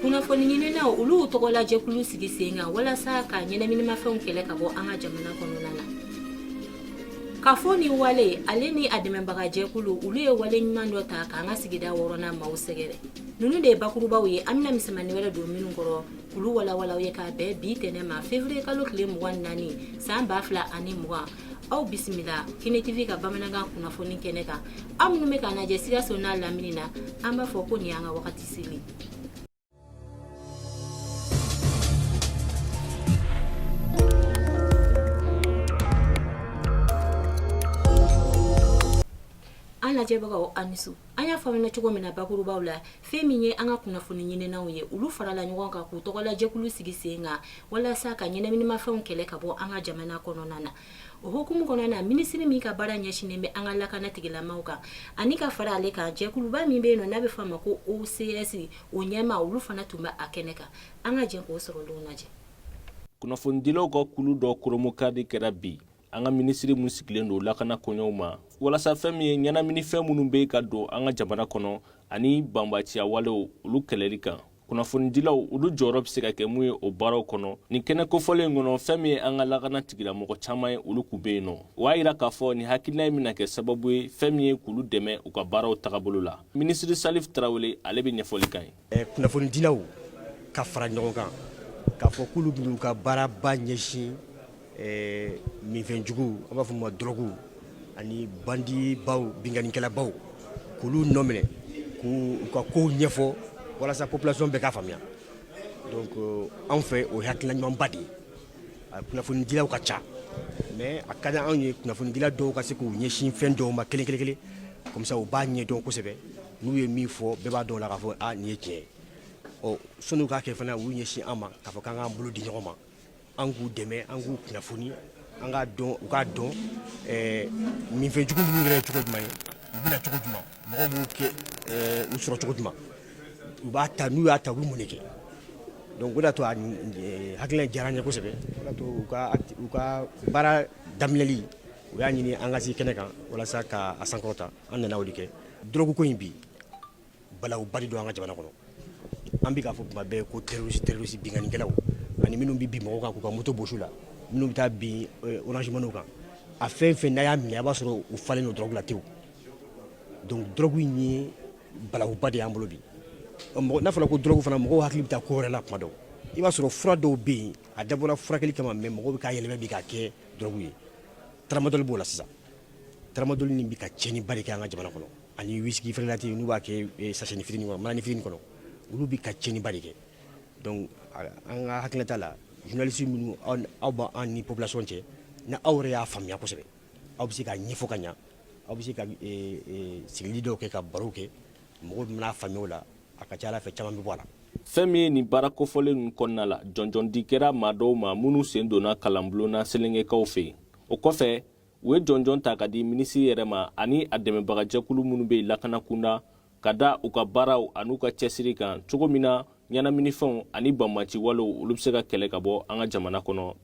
kunnafoni ɲininaw olu tɔgɔlajɛkulu sigi sen kan walasa ka ɲɛnaminimafɛnw kɛlɛ ka bɔ an ka jamana kɔnɔna na kafo ni wale ale ni a dɛmɛbaga jɛkulu olu ye wale ɲuman dɔ ta k'an ka sigida wɔɔrɔnan maaw sɛgɛrɛ ninnu de ye bakurubaw ye an bɛna misɛnmannin wɛrɛ don ninnu kɔrɔ k'olu walawala aw ye k'a bɛn bi tɛnɛn ma fevriye kalo tile mugan naani saan b'a fila ani mugan aw bisimila kɛnɛ tv ka bamanankan kunnafoni kɛnɛ kan aw minnu bɛ k'an lajɛ sikaso n'a lamini na an b'a fɔ ko nin y'an ka wagati an lajɛbagaw a ni su an y'a fɔ aw ɲɛna cogo min na bakurubaw la fɛn min ye an ka kunnafoni ɲininaw ye olu farala ɲɔgɔn kan k'u tɔgɔlajɛkulu sigi sen kan walasa ka ɲɛnaminimafɛnw kɛlɛ ka bɔ an ka jamana kɔnɔna na O hukumu kɔnɔna na minisiri min ka baara ɲɛsinnen bɛ an ka lakana tigilamaw kan ani ka fara ale kan jɛkuluba min bɛ yen nɔ n'a bɛ fɔ a ma ko OCS o ɲɛmaa olu fana tun bɛ a kɛnɛ kan an ka jɛ k'o sɔrɔ don lajɛ kunnafonidilaw ka kulu dɔ koromokadi kɛra bi an ka minisiri min sigilen don lakana koɲɛw ma walasa fɛn min ye ɲɛnaminifɛn minnu bɛ ka don an ka jamana kɔnɔ ani banbaanciya walew olu kɛlɛli kan kunnafonidilaw olu jɔyɔrɔ bɛ se ka kɛ mun ye o baaraw kɔnɔ nin kɛnɛ kofɔlen in kɔnɔ fɛn min ye an ka lakana tigilamɔgɔ caman ye olu tun bɛ yen nɔ o y'a yira k'a fɔ nin hakilina in bɛna kɛ sababu ye fɛn min ye k'olu dɛmɛ u ka baaraw tagabolo la minisiri salif tarawele ale bɛ ɲɛfɔli k'an ye eh, kunnafonidilaw ka fara ɲɔgɔn kan k'a fɔ k'olu b'u ka baaraba ɲɛsin minfɛnjugu a b'a fɔ ma drogue ani bandi baw binkannikɛlabaw k'olu nɔ minɛ k'u ka kow ɲɛfɔ walasa population bɛɛ k'a faamuya donc anw fɛ o ye hakilina ɲumanba de ye a kunnafonidilaw ka ca mais a ka di anw ye kunnafonidila dɔw ka se k'u ɲɛsin fɛn dɔw ma kelen-kelen comme ça u b'a ɲɛdɔn kosɛbɛ n'u ye min fɔ bɛɛ b'a dɔn la k'a fɔ nin ye tiɲɛ ye sani u k'a kɛ fana u ɲɛsin an ma k'a fɔ k'an k'an bolo di ɲɔgɔn ma an k'u dɛmɛ an k'u kunnafoni an k'a dɔn u k'a dɔn minfɛnjugu minnu yɛrɛ ye cogo jumɛn ye u bɛ na cogo jumɛn mɔgɔw b'u kɛ u sɔrɔ cogo jumɛn u b'a ta n'u y'a ta u bɛ mun de kɛ donc o de y'a to a hakilina diyara n ye kosɛbɛ o de y'a to u ka u ka baara daminɛli u y'a ɲini an ka se kɛnɛ kan walasa ka a sankɔrɔta an nana o de kɛ drogue ko in bi balawuba de don an ka jamana kɔnɔ an bɛ k'a fɔ kuma bɛɛ ko terroriste terroriste binkannikɛlaw ani minnu bɛ bin mɔgɔw kan k'u ka moto bɔsi u la minnu bɛ taa bin eh, orange money kan a fɛn fɛn n'a y'a minɛ a b'a sɔrɔ u falen don drogue la tewu donc drogue in ye balawuba de y'an bolo bi n'a fɔra ko drogue fana mɔgɔw hakili bɛ taa ko wɛrɛ la kuma dɔw i b'a sɔrɔ fura dɔw bɛ yen a dabɔra furakɛli kama mais mɔgɔw bɛ k'a yɛlɛmɛ bi k'a kɛ drogue ye taramadɔli b'o la sisan taramadɔli nin bɛ ka tiɲɛniba de kɛ an ka jamana kɔnɔ ani whisky frelaté n'u b'a kɛ eh, sachetnin fitini kɔnɔ manani fitini kɔnɔ olu bɛ ka tiɲɛniba de kɛ donc an ka hakilinata la journaliste minnu aw b'an ni population cɛ ni aw yɛrɛ y'a faamuya kosɛbɛ aw bɛ se k'a ɲɛfɔ ka ɲa aw bɛ se ka eh, eh, sigili dɔw kɛ ka barow kɛ mɔgɔw bɛna faamuya o la a ka ca ala fɛ caman bɛ bɔ a la fɛn min ye nin baara kofɔlen ninnu kɔnɔna la jɔnjɔndi kɛra maa dɔw ma minnu sen donna kalanbulon na selengekaw fɛ yen o kɔfɛ u ye jɔnjɔn ta ka di minisiri yɛrɛ ma ani a dɛmɛbagajɛkulu minnu bɛ lakana kunda ka da u ka baaraw an'u ka cɛsiri kan cogo min na ɲɛnaminifɛnw ani banbanci walew olu bɛ se ka kɛlɛ ka bɔ an ka jamana kɔnɔ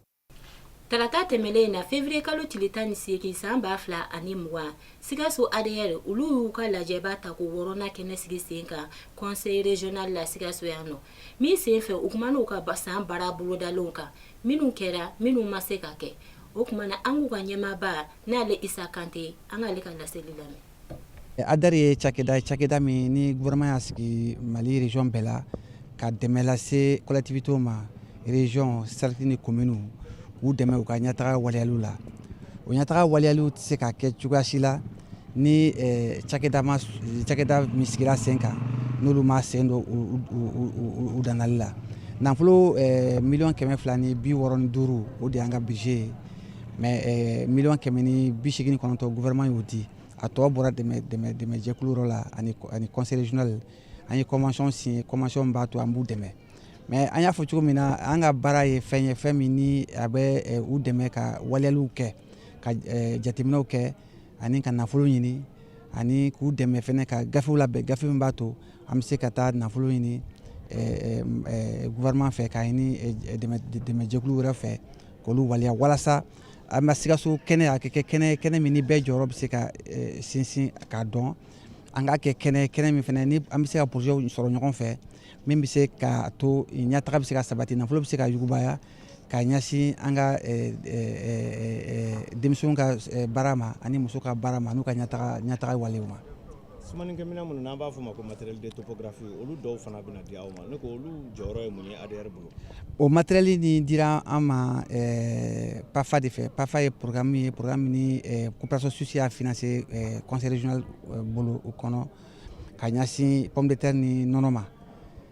Tarata tɛmɛnen in na février kalo tile tan ni seegin san ba fila ani mugan, Sikaso ADR olu y'u ka lajɛba tako wɔɔrɔnan kɛnɛ sigi sen kan conseil régional la Sikaso yan nɔ, min senfɛ u kumana u ka san baara bolodalenw kan minnu kɛra minnu ma se ka kɛ. o tuma na an k'u ka ɲɛmaaba n'ale isa kante an k'ale ka laseli lamɛn ADR ye cakɛda cakɛda min ni gouvernement y'a sigi mali region bɛɛ la ka dɛmɛ lase collectivités ma region cercle ni communes k'u dɛmɛ u ka ɲɛtaga waleyaliw la o ɲɛtaga waleyaliw tɛ se ka kɛ cogoya si la ni cakɛda min sigira sen kan n'olu ma sen don u dangali la nafolo million kɛmɛ fila ni bi wɔɔrɔ ni duuru o de y'an ka budget ye mais million kɛmɛ ni bi seegin ni kɔnɔntɔn gouvernement y'o di a tɔ bɔra dɛmɛjɛkulu yɔrɔ la ani conseil régional an ye convention signé convention min b'a to an b'u dɛmɛ mais an y'a fɔ cogo min na an ka baara ye fɛn ye fɛn min ni a bɛ u dɛmɛ ka waleyaliw kɛ ka jateminɛw kɛ ani ka nafolo ɲini ani k'u dɛmɛ fɛnɛ ka gafew labɛn gafe min b'a to an bɛ se ka taa nafolo ɲini gouvernement fɛ k'a ɲini dɛmɛjɛkulu wɛrɛ fɛ k'olu waleya walasa an bɛ sikaso kɛnɛ a kɛ kɛnɛ kɛnɛ min ni bɛɛ jɔyɔrɔ bɛ se ka sinsin k'a dɔn an k'a kɛ kɛnɛ kɛnɛ min fɛnɛ ni an bɛ se ka projets sɔrɔ ɲɔgɔn fɛ min bɛ se k'a to ɲɛtaga bɛ se ka sabati nafolo bɛ se ka yugubaya ka ɲɛsin an ka eh, eh, eh, denmisɛnw ka baara ma ani muso ka baara ma n'u ka ɲɛtaga walew ma sumanikɛminɛn minnu n'an b'a fɔ o ma ko matériel de topographie olu dɔw fana bɛna di aw ma ne ko olu jɔyɔrɔ ye mun ye ADR bolo o matériel nin dira an ma PAFA de fɛ PAFA ye programme ye programme ni coopération suisse y'a financé conseil régional bolo o kɔnɔ ka ɲɛsin pomme de terre ni nɔnɔ ma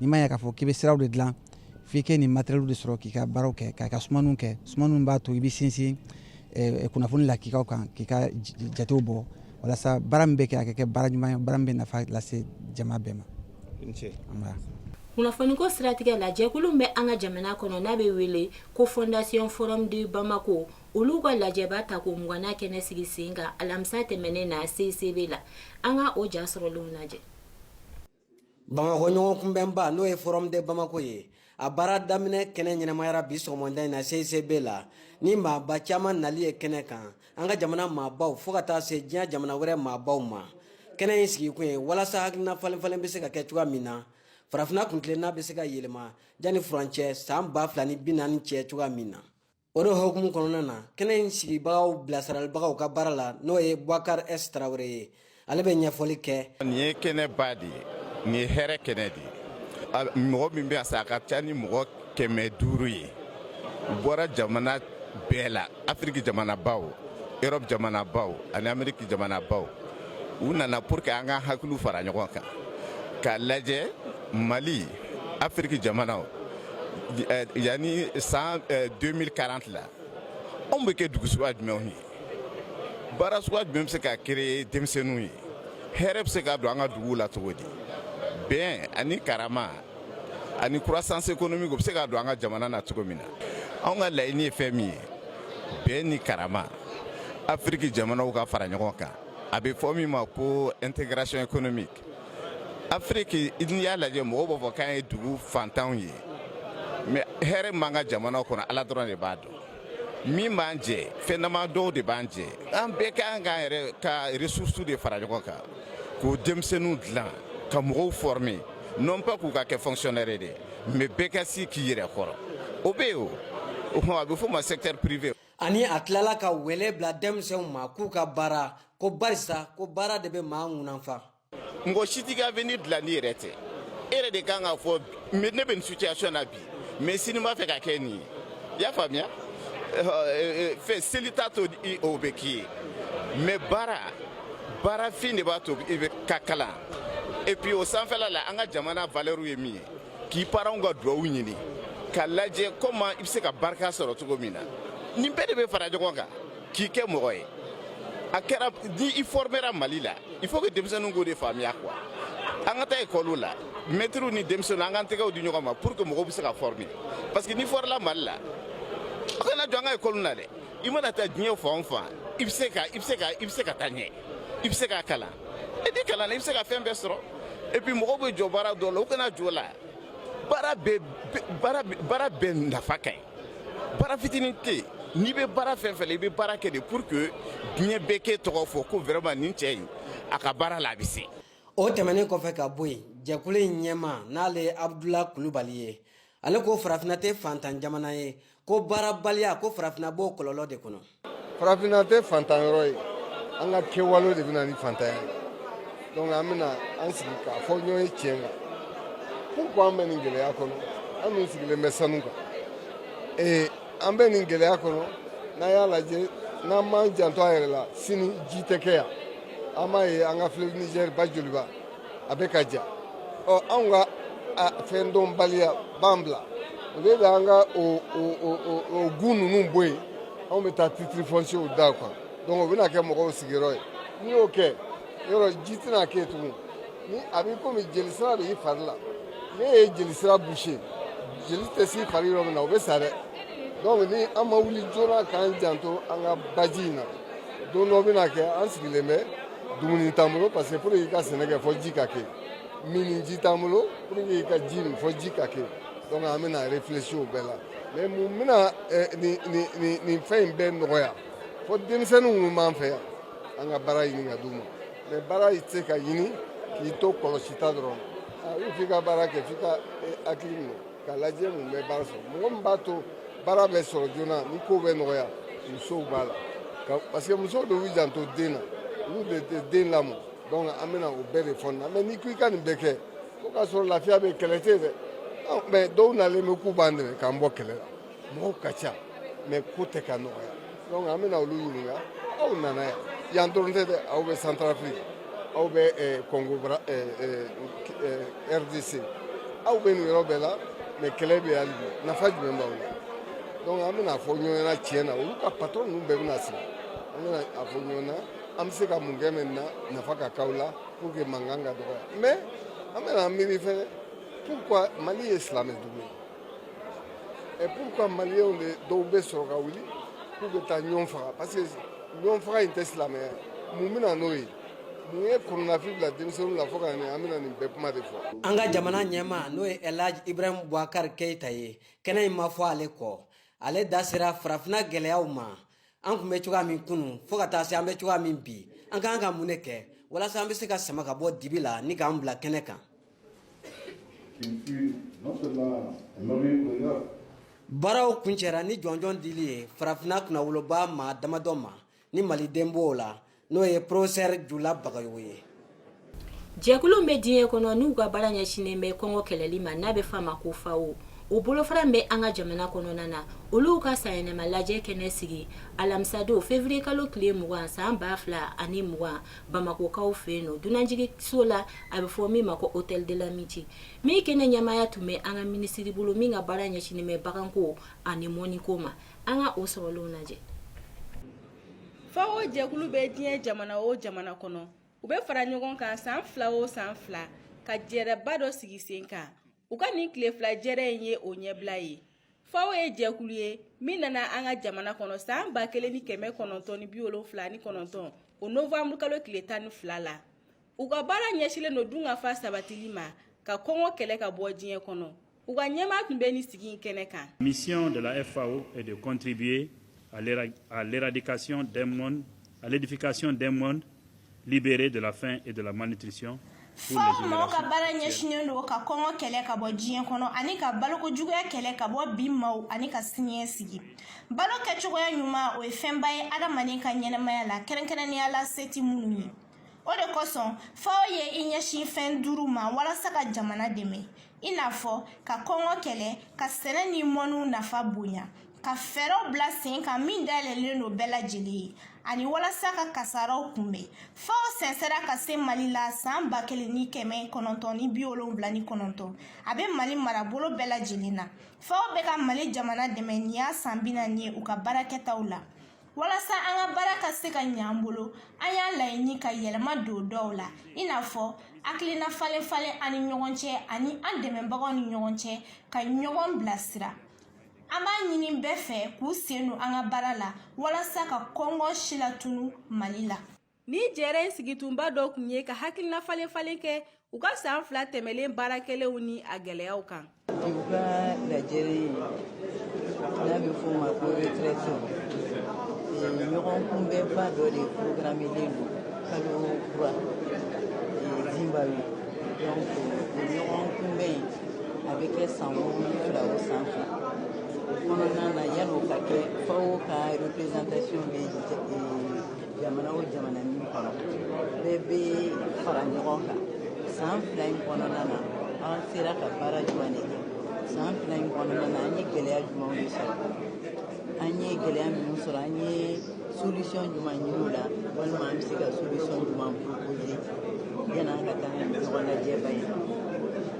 n'i ma ya k'a fɔ k'i bɛ siraw de dilan f'i kɛ nin matériels de sɔrɔ k'i ka baaraw kɛ k'a ka sumaniw kɛ sumaniw b'a to i bɛ sinsin eh, kunnafoni lakikaw kan k'i ka jatew bɔ walasa baara min bɛ kɛ a ka kɛ baara ɲuman ye baara min bɛ nafa lase jama bɛɛ ma kunnafoniko siratigɛ la jɛkulu bɛ an ka jamana kɔnɔ n'a bɛ wele ko fondation forum de bamako olu ka lajɛba tako mugannan kɛnɛ sigi sen kan alamisa tɛmɛnen na cicb la an ka o ja sɔrɔlenw lajɛ bamakɔ ɲɔgɔn kunbɛnba n'o ye forum de bamako ye a baara daminɛ kɛnɛ ɲɛnamayara bi sɔgɔmada in na cicb la ni maaba caman nali ye kɛnɛ kan an ka jamana maabaw fɔɔ ka taa se diɲɛ jamana wɛrɛ maabaw ma kɛnɛ in sigikun ye walasa hakilina falenfalen bɛ se ka kɛ cogoya min na farafina kuntilenna bɛ se ka yɛlɛma jani furancɛ san ba fila ni bi naani cɛ cogoya min na o de hukumu kɔnɔna na kɛnɛ in sigibagaw bilasiralibagaw ka baara la n'o ye bubakari s tarawele ye ale bɛ ɲɛfɔli kɛ nin ye kɛnɛba de ye nin ye hɛrɛ kɛnɛ de ye mɔgɔ min bɛ a sa a ka ca ni mɔgɔ kɛmɛ duuru ye u bɔra jamana bɛɛ la afiriki jamanabaw erɔpu jamanabaw ani ameriki jamanabaw u nana pour que an ka hakiliw fara ɲɔgɔn kan k'a lajɛ mali afiriki jamanaw eh, yanni san 2040 eh, la anw bɛ kɛ dugu suguya jumɛnw ye baara suguya jumɛn bɛ se ka créer denmisɛnninw ye hɛrɛ bɛ se ka don an ka duguw la cogo di bɛn ani karama ani croissance économique o bɛ se ka don an ka jamana na cogo min na anw ka laɲini ye fɛn min ye bɛn ni karama afiriki jamanaw ka fara ɲɔgɔn kan a bɛ fɔ min ma ko intégration économique afiriki n'i y'a lajɛ mɔgɔw b'a fɔ k'an ye dugu fantanw ye mais hɛrɛ min b'an ka jamanaw kɔnɔ ala dɔrɔn de b'a dɔn min b'an jɛ fɛn dama dɔw de b'an jɛ an bɛɛ ka kan k'an yɛrɛ ka ressources de fara ɲɔgɔn kan k'o denmisɛnninw dilan ka mɔgɔw former non pas k'u ka kɛ fonctionnaire de mais bɛɛ ka se k'i yɛrɛ kɔrɔ o bɛ yen o o tuma a bɛ fɔ ma secteur privé ani a tilala ka wele bila denmisɛnw ma k'u ka baara ko barisa ko baara de bɛ maa kunfa mɔgɔ si t'i ka avenir dilan n'i yɛrɛ tɛ e yɛrɛ de kan k'a fɔ ne bɛ nin situation na bi mais sini n b'a fɛ ka kɛ nin ye i y'a faamuya fɛn seli t'a to o bɛ k'i ye mais baara baarafin de b'a to i bɛ ka kalan et puis o sanfɛla la an ka jamana valeur ye min ye k'i parents ka duwawu ɲini ka lajɛ comment i bɛ se ka barika sɔrɔ cogo min na nin bɛɛ de bɛ fara ɲɔgɔn kan k'i kɛ mɔgɔ ye a kɛra ni i fɔrmera mali la il faut que denmisɛnninw k'o de faamuya quoi an ka taa ekɔliw la mɛtiriw ni denmisɛnninw an k'an tɛgɛw di ɲɔgɔn ma pour que mɔgɔw bɛ se ka fɔrme parce que n'i fɔrmela mali la aw kana jɔn an ka ekɔliw na dɛ i mana taa diɲɛ fan o fan i bɛ se ka i bɛ se ka i bɛ se ka taa ɲɛ i bɛ se ka kalan e ni kalan na i bɛ se ka fɛn bɛɛ sɔrɔ et puis mɔgɔw bɛ jɔn baara dɔ la u kana jɔn o la baara bɛɛ baara bɛɛ nafa ka ɲi Baara fitinin tɛ yen n'i bɛ baara fɛn fɛn la i bɛ baara kɛ de pour que diɲɛ bɛɛ k'e tɔgɔ fɔ ko vraiment nin cɛ in a ka baara la a bɛ se. o tɛmɛnen kɔfɛ ka bɔ yen jɛkulu in ɲɛmaa n'ale ye abudula kulubali ye ale ko farafinna tɛ faantan jamana ye ko baarabaliya ko farafinna b'o kɔlɔlɔ de kɔnɔ farafinna tɛ faantan yɔrɔ ye an ka kɛwale de bɛna ni faantanya ye donc an bɛna an sigi k'a fɔ ɲɔgɔn ye tiɲɛ kan pourquoi an bɛ nin gɛlɛya kɔnɔ an dun sigilen bɛ sanu kan ee an bɛ nin gɛlɛya kɔnɔ n'an y'a lajɛ n'an m'an janto an yɛrɛ la sini ji tɛ kɛ yan an b'a ye an ka fleuve niger ba joliba a bɛ ka ja ɔ anw ka fɛn dɔnbaliya b'an bila o de la an ka o gun ninnu bɔ yen anw bɛ taa titre foncier da a kan donc o bɛna kɛ mɔgɔw sigiyɔrɔ ye n'i y'o kɛ yɔrɔ ji tɛna kɛ tuguni a b'i komi jelisira de y'i fari la n'i ye jelisira boucher jeli tɛ s'i fari yɔrɔ min na o bɛ sa dɛ donc ni an ma wuli joona k'an janto an ka baji in na don dɔ bɛna kɛ an sigilen bɛ dumuni t'an bolo parce que pour que i ka sɛnɛ kɛ fo ji ka kɛ minniji t'an bolo pour que i ka ji min fo ji ka kɛ donc an bɛna réfléchir o bɛɛ la mais mun bɛna nin nin nin nin fɛn in bɛɛ nɔgɔya fo denmisɛnnin minnu b'an fɛ yan an ka baara ɲini ka d'u ma mais baara tɛ se ka ɲini k'i to kɔlɔsi ta dɔrɔn ayi f'i ka baara kɛ f'i ka hakili minɛ k'a lajɛ mun bɛ baara sɔrɔ mɔgɔ min b'a to baara bɛ sɔrɔ joona ni kow bɛ nɔgɔya musow b'a la parce que musow de b'u janto den na olu de tɛ den lamɔ donc an bɛna o bɛɛ de fɔ nin na mais n'i ko i ka nin bɛɛ kɛ fo k'a sɔrɔ lafiya bɛ kɛlɛ tɛ dɛ mais dɔw nalen bɛ k'u b'an dɛmɛ k'an bɔ kɛlɛ la mɔgɔw ka ca mais ko tɛ ka nɔgɔya donc an bɛna olu ɲininka aw nana yan yan dɔrɔn tɛ dɛ aw bɛ centrafrique aw bɛ congo eh, eh, eh, rdc aw bɛ nin yɔrɔ bɛɛ la mais kɛlɛ bɛ hali bi nafa jumɛn b'aw la donc an bɛna a fɔ ɲɔgɔn ɲɛna tiɲɛ na olu ka patron ninnu bɛɛ bɛna sigi an bɛna a fɔ ɲɔgɔn na an bɛ se ka mun kɛ maintenant nafa ka k'aw la pour que mankan ka dɔgɔya mais an bɛna miiri fɛnɛ pourquoi mali ye silamɛ dugu ye Et pourquoi Maliens de dɔw bɛ sɔrɔ ka wuli k'u bɛ taa ɲɔgɔn faga parce que ɲɔgɔn faga in tɛ silamɛya mun bɛna n'o ye mun ye kɔnɔnafili bila denmisɛnninw la fo ka na an bɛna nin bɛɛ kuma de fɔ. an ka jamana ɲɛmaa n'o ye elhaji ibrahim bubakar keyita ye kɛnɛ in ma fɔ ale kɔ ale da sera farafinna gɛlɛyaw ma an tun bɛ cogoya min kunu fo ka taa se an bɛ cogoya min bi an ka kan ka mun de kɛ walasa an bɛ se ka sama ka bɔ dibi la ni k'an bila kɛnɛ kan baaraw kuncɛra ni jɔnjɔn dili ye farafinna kunnawoloba maa damadɔ ma ni maliden b'o la n'o ye porofesɛri jula bagayogo ye jɛkulu bɛ diɲɛ kɔnɔ n'u ka baara ɲɛsinnen bɛ kɔngɔ kɛlɛli ma n'a bɛ f'a ma ko FAO o bolofara bɛ an ka jamana kɔnɔna na olu ka sanyɛlɛma lajɛ kɛnɛ sigi alamisadon février kalo tile mugan san ba fila ani mugan bamakokaw fɛ yen nɔ dunanjigiso la a bɛ fɔ min ma ko hôtel de l'amitié min kɛnɛ ɲɛmaaya tun bɛ an ka minisiri bolo min ka baara ɲɛsinnen bɛ baganko ani mɔniko ma an ka o sɔrɔlenw lajɛ FAO jɛkulu bɛ diɲɛ jamana o jamana kɔnɔ u bɛ fara ɲɔgɔn kan san fila o san fila ka jɛrɛba dɔ sigi sen kan u ka nin tile fila jɛrɛ in ye o ɲɛbila ye FAO ye jɛkulu ye min nana an ka jamana kɔnɔ san ba kelen ni kɛmɛ kɔnɔntɔn ni bi wolonfila ni kɔnɔntɔn o novanburu kalo tile tan ni fila la u ka baara ɲɛsilen don dunkafa sabatili ma ka kɔngɔ kɛlɛ ka bɔ diɲɛ kɔnɔ U ka ɲɛmaa tun bɛ nin sigi in kɛnɛ kan. Mission de la FAO est de contribuer à l'éradication d'un monde, à l'édification d'un monde libéré de la faim et de la malnutrition. FAO mɔgɔ ka baara ɲɛsinnen don ka kɔngɔ kɛlɛ ka bɔ diɲɛ kɔnɔ ani ka balokojuguya kɛlɛ ka bɔ bi maaw ani ka siniɲɛsigi balo kɛcogoya ɲuman o ye fɛnba ye adamaden ka ɲɛnamaya la kɛrɛnkɛrɛnnenya la se tɛ minnu ye o de kosɔn FAO ye i ɲɛsin fɛn duuru ma walasa ka jamana dɛmɛ i n'a fɔ ka kɔngɔ kɛlɛ ka sɛnɛ ni mɔniw nafa bonya ka fɛɛrɛw bila sen kan min dayɛlɛlen don bɛɛ lajɛlen ye ani walasa ka kasaraw kunbɛn FAO sɛnsɛra ka se mali la san ba kelen ni kɛmɛ kɔnɔntɔn ni bi wolonwula ni kɔnɔntɔn a bɛ mali marabolo bɛɛ lajɛlen na FAO bɛ ka mali jamana dɛmɛ nin y'a san bi naani ye u ka baarakɛtaw la walasa an ka baara ka se ka ɲɛ an bolo an y'a laɲini ka yɛlɛma don dɔw la i n'a fɔ hakilina falen falen an ni ɲɔgɔn cɛ ani an dɛmɛbagaw ni ɲɔgɔn cɛ ka ɲɔgɔn bilasira an b'a ɲini bɛɛ fɛ k'u sen don an ka baara la walasa ka kɔngɔ silatunu mali la Nin jɛrɛ in sigikunba dɔ tun ye ka hakilina falen falen kɛ u ka san fila tɛmɛnen baara kɛlenw ni a gɛlɛyaw kan u ka lajɛrɛ ye n'a bɛ f'a ma ko retraite ɲɔgɔn kunbɛnba dɔ de programmelen don kalo kura Zimbabwe donc o ɲɔgɔn kunbɛn in a bɛ kɛ san fila o san fila kɔnɔna na yann'o ka kɛ FAO ka représentation bɛ jamana o jamana min kɔnɔ bɛɛ bɛ fara ɲɔgɔn kan san fila in kɔnɔna na an sera ka baara jumɛn de kɛ san fila in kɔnɔna na an ye gɛlɛya jumɛnw de sɔrɔ an ye gɛlɛya minnu sɔrɔ an ye solution jumɛn ɲini o la walima an bɛ se ka solution jumɛn proposer yan'an ka taa ɲɔgɔn lajɛba in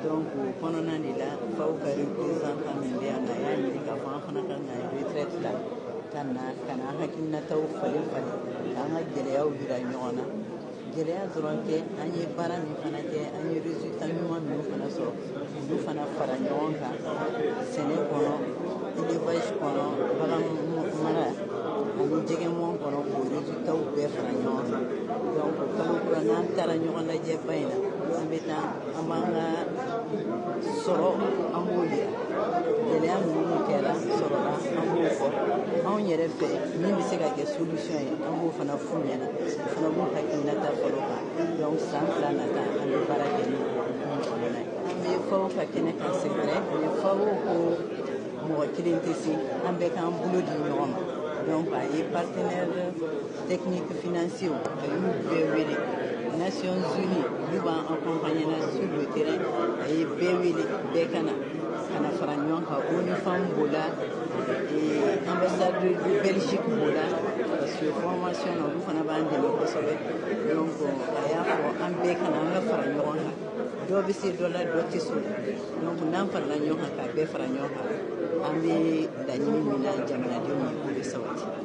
donc o kɔnɔna de la FAO ka représentant min bɛ yan na a y'a ɲini k'a fɔ an fana ka na retraite la ka na ka na an hakilinataw falen falen ka an ka gɛlɛyaw jira ɲɔgɔn na gɛlɛya dɔrɔn tɛ an ye baara min fana kɛ an ye résultat ɲuman minnu fana sɔrɔ olu fana fara ɲɔgɔn kan sɛnɛ kɔnɔ élevage kɔnɔ bagan mara ani jɛgɛmɔn kɔnɔ k'o résultatw bɛɛ fara ɲɔgɔn kan donc kalo kura n'an taara ɲɔgɔn lajɛba in na an bɛ taa an b'an ka sɔrɔ an b'o yira gɛlɛya minnu kɛra sɔrɔla an b'o fɔ anw yɛrɛ fɛ min bɛ se ka kɛ solution ye an b'o fana f'u ɲɛna o fana b'u hakilinata fɔ olu kan donc san fila nata an bɛ baara kɛ ni hukumu kɔnɔna ye an bɛ FAO ka kɛnɛ kan c'est vrai mais FAO ko mɔgɔ kelen tɛ se an bɛɛ k'an bolo di ɲɔgɔn ma donc a ye partenaire technique financier a y'u bɛɛ wele nations unies olu b'an accompagner na sur le terrain a ye bɛɛ wele bɛɛ ka na ka na fara ɲɔgɔn kan ONU Femmes b'o la ambassade de belgique b'o la parce que formation na olu fana b'an dɛmɛ kosɛbɛ donc a y'a fɔ an bɛɛ ka na an ka fara ɲɔgɔn kan dɔ bɛ se dɔ la dɔ tɛ s'o la donc n'an farala ɲɔgɔn kan k'a bɛɛ fara ɲɔgɔn kan an bɛ laɲini min na jamanadenw ye k'o bɛ sabati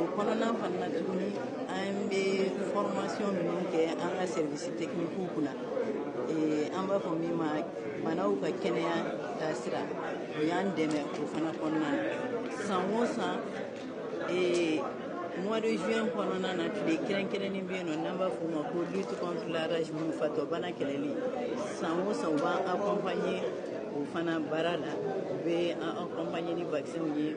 o kɔnɔna fana na tuguni an bɛ formation minnu kɛ an ka service technique kunna eh, an b'a fɔ min ma baganw ka kɛnɛya taasira o y'an dɛmɛ o fana kɔnɔna na san o san eh, mois de juin kɔnɔna na tile kɛrɛnkɛrɛnnen bɛ yen nɔ n'an b'a fɔ o ma ko lutte contre la rage fatɔ bana kɛlɛli san o san u b'an accompagner o fana baara la u bɛ an accompagner ni vaccins ye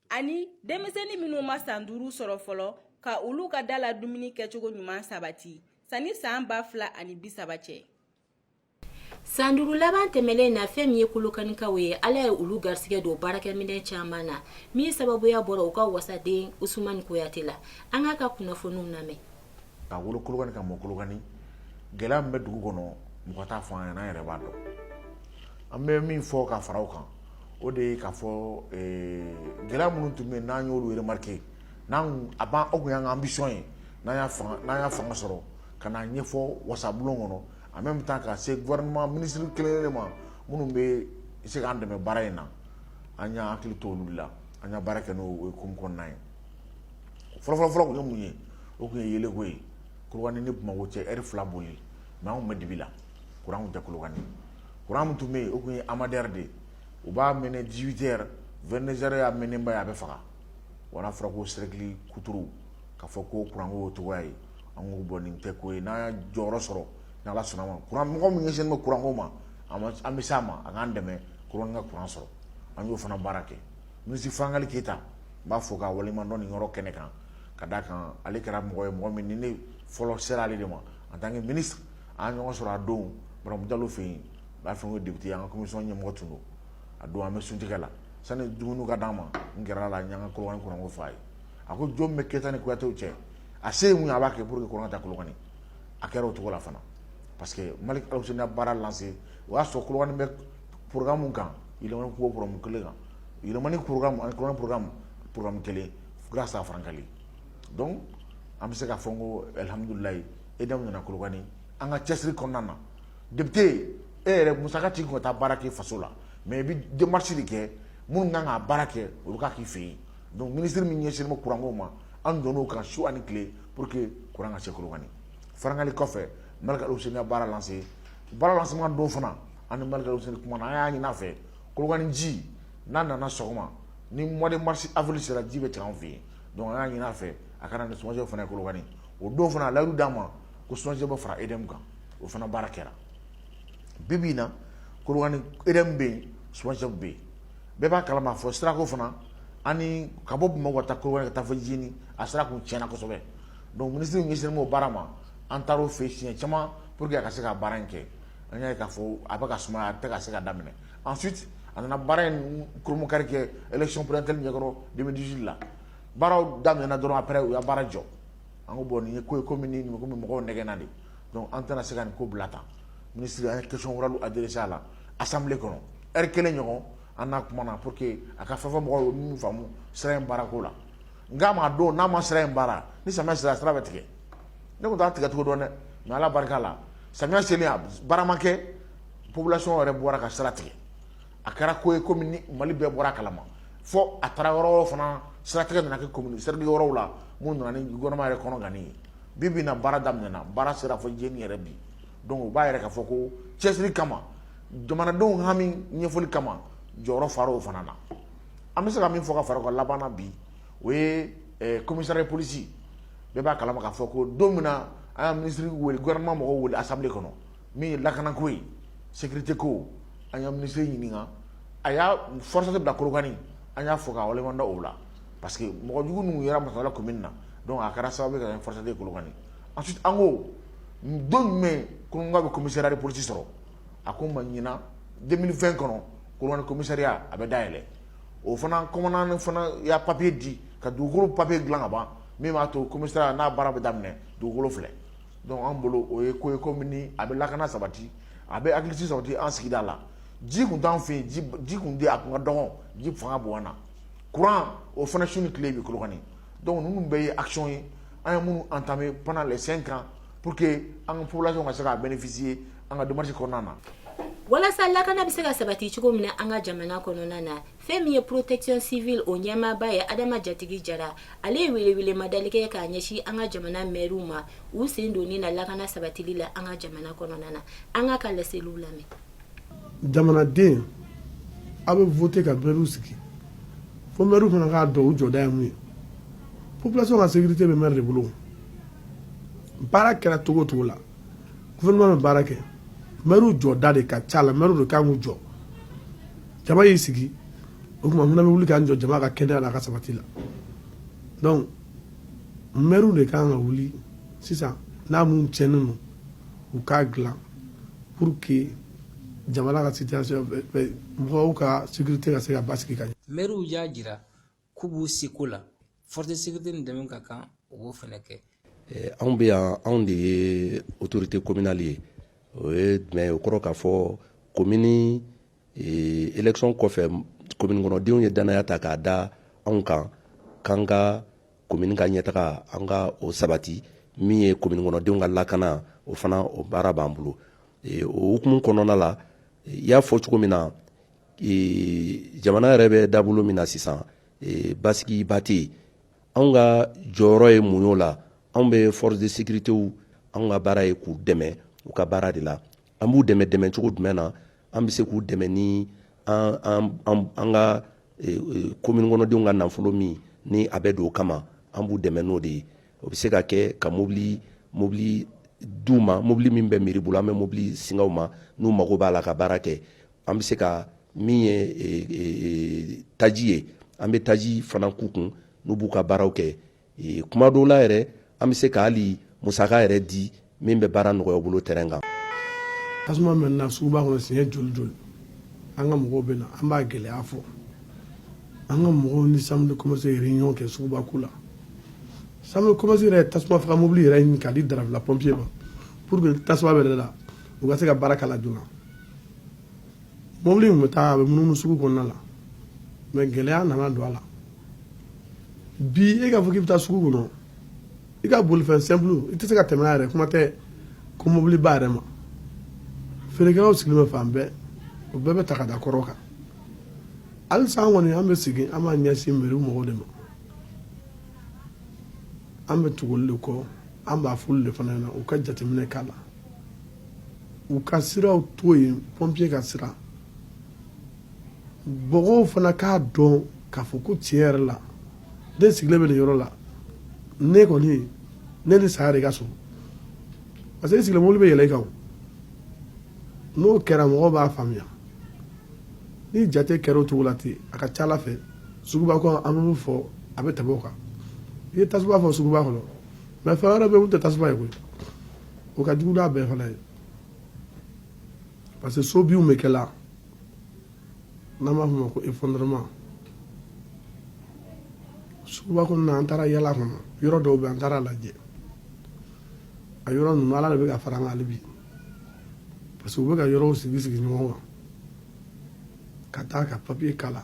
ani denmisɛnnin minnu ma san duuru sɔrɔ fɔlɔ ka olu ka dala dumuni kɛcogo ɲuman sabati sani san ba fila ani bi saba cɛ san duuru laban tɛmɛlen na fɛn min ye kolokanikaw ye ala ye olu garisɛgɛ don baarakɛminɛn caman na min sababuya bɔra u ka wasaden usumani kuyate la an k'a ka kunnafoniw lamɛn ka wolo Kolokani ka mɔ Kolokani gɛlɛya min bɛ dugu kɔnɔ mɔgɔ t'a fɔ an ɲɛna an yɛrɛ b'a dɔn an bɛ min fɔ ka fara o kan o de ye k'a fɔ gɛlɛya minnu tun bɛ yen n'an y'olu remarquer n'an tun a ban o tun y'an ka ambition ye n'an y'a fanga n'an y'a fanga sɔrɔ ka n'a ɲɛfɔ wasabulon kɔnɔ en même temps ka se gouvernement ministre kelen-kelen ma minnu bɛ se k'an dɛmɛ baara in na an y'an hakili to olu la an y'a baara kɛ n'o hukumu kɔnɔna ye fɔlɔfɔlɔfɔlɔ kun ye mun ye o kun ye yeelenko ye kolokani ni bamakɔ cɛ heure fila boli mais anw bɛ dibi la kuran tɛ kolokani kuran min tun bɛ yen o tun ye amader de ye u b'a mɛnɛ dix-huit heures vingt-deux heures y'a mɛnɛba ye a bɛ faga wa a fɔra ko cercle kuturu ka fɔ ko kuranko o cogoya ye an ko bon nin tɛ ko ye n'an y'a jɔyɔrɔ sɔrɔ ni ala sɔnna ma kuran mɔgɔ min ɲɛsinnen bɛ kuranko ma an bɛ s' a ma a k'an dɛmɛ kolokani ka kuran sɔrɔ an y'o fana baara kɛ ministre frankaly keyita n b'a fɔ ka waleɲumandɔn nin yɔrɔ kɛnɛ kan ka d'a kan ale kɛra mɔgɔ ye mɔgɔ min ni ne fɔlɔ sera ale de ma en tant que ministre an ye ɲɔgɔn sɔrɔ a don baramu jalo fɛ yen b'a fɔ ko député an ka commission ɲɛmɔgɔ tun don a don an bɛ suntigɛ la sani dumuni ka d'an ma n gɛrɛla n y'an ka kolokani kuranko fɔ a ye a ko jo bɛ keyita ni kuyatew cɛ a se ye mun ye a b'a kɛ pour que kuran ka taa kolokani a kɛra o cogo la fana parce que malick alhousseini y'a baara lancé o y'a sɔrɔ kolokani bɛ pmu kan pmu kelen kan yɛlɛmani pmukan pmu kelen fo sa fararankan dɔn an bɛ se ka fɔ ko alihamdulilalayi e da nana kulubali an ka cɛsiri kɔnɔna na debite yen e yɛrɛ musa ci tun ka taa baara kɛ faso la mɛ i bɛ denmasi de kɛ minnu kan ka baara kɛ olu ka k'i fɛ yen don minisiriri min ɲɛsin ma kuranko ma an don ka su ani tile pour que kuran ka se kulubali fararankan kɔfɛ mali ka sen baara lase baara lase don fana an ni malick alhousseini kumana an y'a ɲin'a fɛ kolokani ji n'a nana sɔgɔma ni mois de mars avril sera ji bɛ tigɛ an fɛ yen donc an y'a ɲin'a fɛ a ka na ni somagep fana ye kolokani o don fana a layidu d'an ma ko somagep bɛ fara edm kan o fana baara kɛra bi bi in na kolokani edm bɛ yen somagep bɛ yen bɛɛ b'a kalama fo sirako fana ani ka bɔ bamakɔ ka taa kolokani ka taa fo jeni a sira kun tiɲɛna kosɛbɛ donc minisiri ɲɛsinnen b'o baara ma an taar'o fɛ yen siɲɛ caman pour que a ka se ka baara in kɛ an y'a ye k'a fɔ a bɛ ka sumaya a tɛ ka se ka daminɛ ensuite a nana baara in kurunkari kɛ élection présidentielle ɲɛkɔrɔ deux mille dix-huit la baaraw daminɛna dɔrɔn après u y'a baara jɔ an ko bon nin ye ko ye komi n'u bɛ mɔgɔw nɛgɛnna de donc an tɛna se ka nin ko bila tan ministre an ye question orale adressé a la assemblée kɔnɔ heure kelen ɲɔgɔn an n'a kumana pour que a ka fɛn fɔ mɔgɔw ye min faamu sira in baarako la n k'a ma donc n'a ma sira in baara ni samiya sera sira bɛ tigɛ ne kun t'a tigɛcogo dɔn dɛ mais ala barika la samiya selen a baara ma kɛ population yɛrɛ bɔra ka sira tigɛ a kɛra ko ye komi ni mali bɛɛ bɔr'a kalama fo a taara yɔrɔ wɛrɛw fana siratigɛ nana kɛ commune siratigɛ yɔrɔw la min nana ni gouvernement yɛrɛ kɔnɔganni ye bi bi in na baara daminɛna baara sera fo jeni yɛrɛ bi donc o b'a yira k'a fɔ ko cɛsiri kama jamanadenw hami ɲɛfɔli kama jɔyɔrɔ fara o fana na an bɛ se ka min fɔ ka fara o kan laban na bi o ye comisaraw ye polisi bɛɛ b'a kalama k'a fɔ ko don min na an y'a minisiri wele gwaman mɔgɔw wele asa kɔnɔ min ye lakanako ye sete ko an ka minisiriri ɲininka a y'a fɔrasa bila korokan an y'a fɔ k' da o la parce que mɔgɔ jugu ninnu yɛrɛ masala tun min na a kɛra sababu ka fɔrasa kolokan a an ko don jumɛn ko bɛ comisari polisi sɔrɔ a ko ma ɲin denmisɛnninmi fɛn kɔnɔ kolonkan comisaya a bɛ da yɛlɛ o fana commandant fana y'a papiye di ka dugukolo papiye dilan ka ban min b'a to commissariat n'a baara bɛ daminɛ dugukolo filɛ donc an bolo o ye ko ye ko min a bɛ lakana sabati a bɛ hakilisigi sabati an sigida la ji tun t'an fɛ yen ji tun tɛ a tun ka dɔgɔn ji fanga bonyana kuran o fana su ni tile bɛ kolokani donc ninnu bɛɛ ye action ye an ye minnu entamé pendant les cinq ans pour que an ka population ka se ka bénéficier an ka démarche kɔnɔna na walasa lakana bɛ se ka sabati cogo min na an ka jamana kɔnɔna na fɛn min ye protection civile o ɲɛmaaba ye adama jatigi jara ale ye welewelemadali kɛ k'a ɲɛsin an ka jamana mɛriw ma u sen donni na lakana sabatili la an ka jamana kɔnɔna na an k'a ka laseliw lamɛn jamanaden a bɛ voter ka mɛriw sigi fo mɛriw fana k'a dɔn u jɔda ye mun ye population ka sécurité bɛ mɛri de bolo baara kɛra cogo o cogo la gouvernement bɛ baara kɛ maires jɔda de ka ca la maires de kan k'u jɔ jama y'i sigi o tuma fana bɛ wuli k'an jɔ jama ka kɛnɛya n'a ka sabati la donc maires de kan ka wuli sisan n'a mun tiɲɛnen don u k'a dilan pour que jamana ka situation mɔgɔw ka sécurité ka se ka basigi ka ɲɛ maires y'a jira k'u b'u seko la force de sécurité ni dɛmɛ ka kan u b'o fana kɛ anw bɛ yan anw de ye autorité communale ye o ye jumɛn ye o kɔrɔ k'a fɔ komini élection kɔfɛ komini kɔnɔdenw ye danaya ta k'a da anw kan k'an ka komini ka ɲɛtaga an ka o sabati min ye komini kɔnɔdenw ka lakana o fana o baara b'an bolo o hukumu kɔnɔna la i y'a fɔ cogo min na jamana yɛrɛ bɛ dabolo min na sisan basigiba tɛ yen anw ka jɔyɔrɔ ye mun y'o la anw bɛ force de sécurité anw ka baara ye k'u dɛmɛ u ka baara de la an b'u dɛmɛ dɛmɛcogo jumɛn na an bɛ se k'u dɛmɛ ni an ka komini kɔnɔdenw ka nafolo min ni a bɛ don o kama an b'u dɛmɛ n'o de ye o bɛ se ka kɛ ka mɔbili mɔbili d'u ma mɔbili min bɛ mairie bolo an bɛ mɔbili singa u ma n'u mago b'a la ka baara kɛ An bɛ se ka min ye taji ye an bɛ taji fana k'u kun n'u b'u ka baaraw kɛ kuma dɔw la yɛrɛ an bɛ se ka hali musaka yɛrɛ di min bɛ baara nɔgɔya u bolo terrain kan tasuma mɛnɛna suguba kɔnɔ siɲɛ joli joli an ka mɔgɔw bɛ na an b'a gɛlɛya fɔ an ka mɔgɔw ni chambre de commerce ye réunion kɛ suguba ko la chambre de commerce yɛrɛ tasuma faga mobili yɛrɛ ɲini k'a di darafila pɔnpiye ma pour que tasuma bɛ la u ka se ka baara k'a la joona mobili in bɛ taa a bɛ munumunu sugu kɔnɔna la mɛ gɛlɛya nana don a la bi e k'a fɔ k'i bɛ taa sugu kɔnɔ i ka bolifɛn simple i tɛ se ka tɛmɛ a yɛrɛ kuma tɛ ko mobiliba yɛrɛ ma feerekɛlaw sigilen bɛ fan bɛɛ o bɛɛ bɛ ta ka da kɔrɔ kan halisa an kɔni an bɛ sigi an b'a ɲɛsin meri mɔgɔw de ma an bɛ tugu olu de kɔ an b'a f'olu de fana ɲɛna u ka jateminɛ k'a la u ka siraw to yen pɔnpiye ka sira mɔgɔw fana k'a dɔn k'a fɔ ko tiɲɛ yɛrɛ la ne sigilen bɛ nin yɔrɔ la ne kɔni ne ni saya de ka surun parce que e sigilen mobili bɛ yɛlɛ i kan n'o kɛra mɔgɔw b'a faamuya ni jate kɛra o cogo la ten a ka ca a la fɛn suguba kɔnɔ an bɛ min fɔ a bɛ tɛmɛ o kan i ye tasuma fɔ suguba kɔnɔ mɛ fɛn wɛrɛ bɛ yen min tɛ tasuma ye koyi o ka jugu n'a bɛɛ fana ye parce que so binw bɛ kɛ la n'an b'a fɔ o ma ko effondrement suguba kɔnɔna an taara yala kɔnɔ yɔrɔ dɔw bɛ an taara lajɛ a yɔrɔ ninnu ala de bɛ ka fara an kan hali bi parce que u bɛ ka yɔrɔw sigi sigi ɲɔgɔn kan ka taa ka papiye k'a la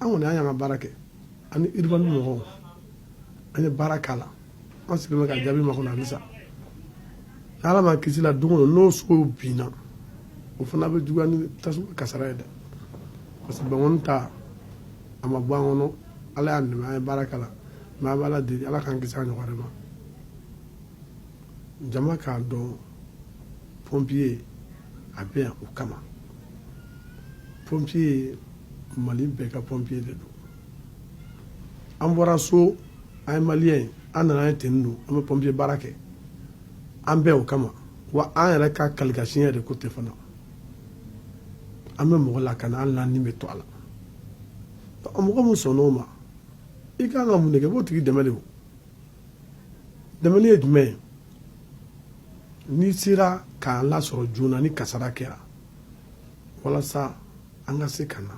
an kɔni an y'an ka baara kɛ ani urbanisme mɔgɔw an ye baara k'a la an sigilen bɛ ka jaabi makɔnɔ halisa n'ala ma kisi la don o don n'o sow binna o fana bɛ juguya ni tasuma kasara ye dɛ parce que bankɔni ta a ma bɔ an kɔnɔ ala y'an dɛmɛ an ye baara k'a la mɛ an b'ala deli ala k'an kisi a ɲɔgɔn wɛrɛ ma jama k'a dɔn pompiye a bɛ yan o kama pompiye mali bɛɛ ka pompiye de don an bɔra so an ye maliyɛn ye an nana ye ten don an bɛ pɔnpiye baara kɛ an bɛɛ o kama wa an yɛrɛ ka kalikan siɲɛ de ko ten fana an bɛ mɔgɔ lakana hali n'an ni bɛ to a la mɔgɔ min sɔnna o ma i ka kan ka mun de kɛ i b'o tigi dɛmɛ de o dɛmɛni ye jumɛn ye n'i sera k'an lasɔrɔ joona ni kasara kɛra walasa an ka se ka na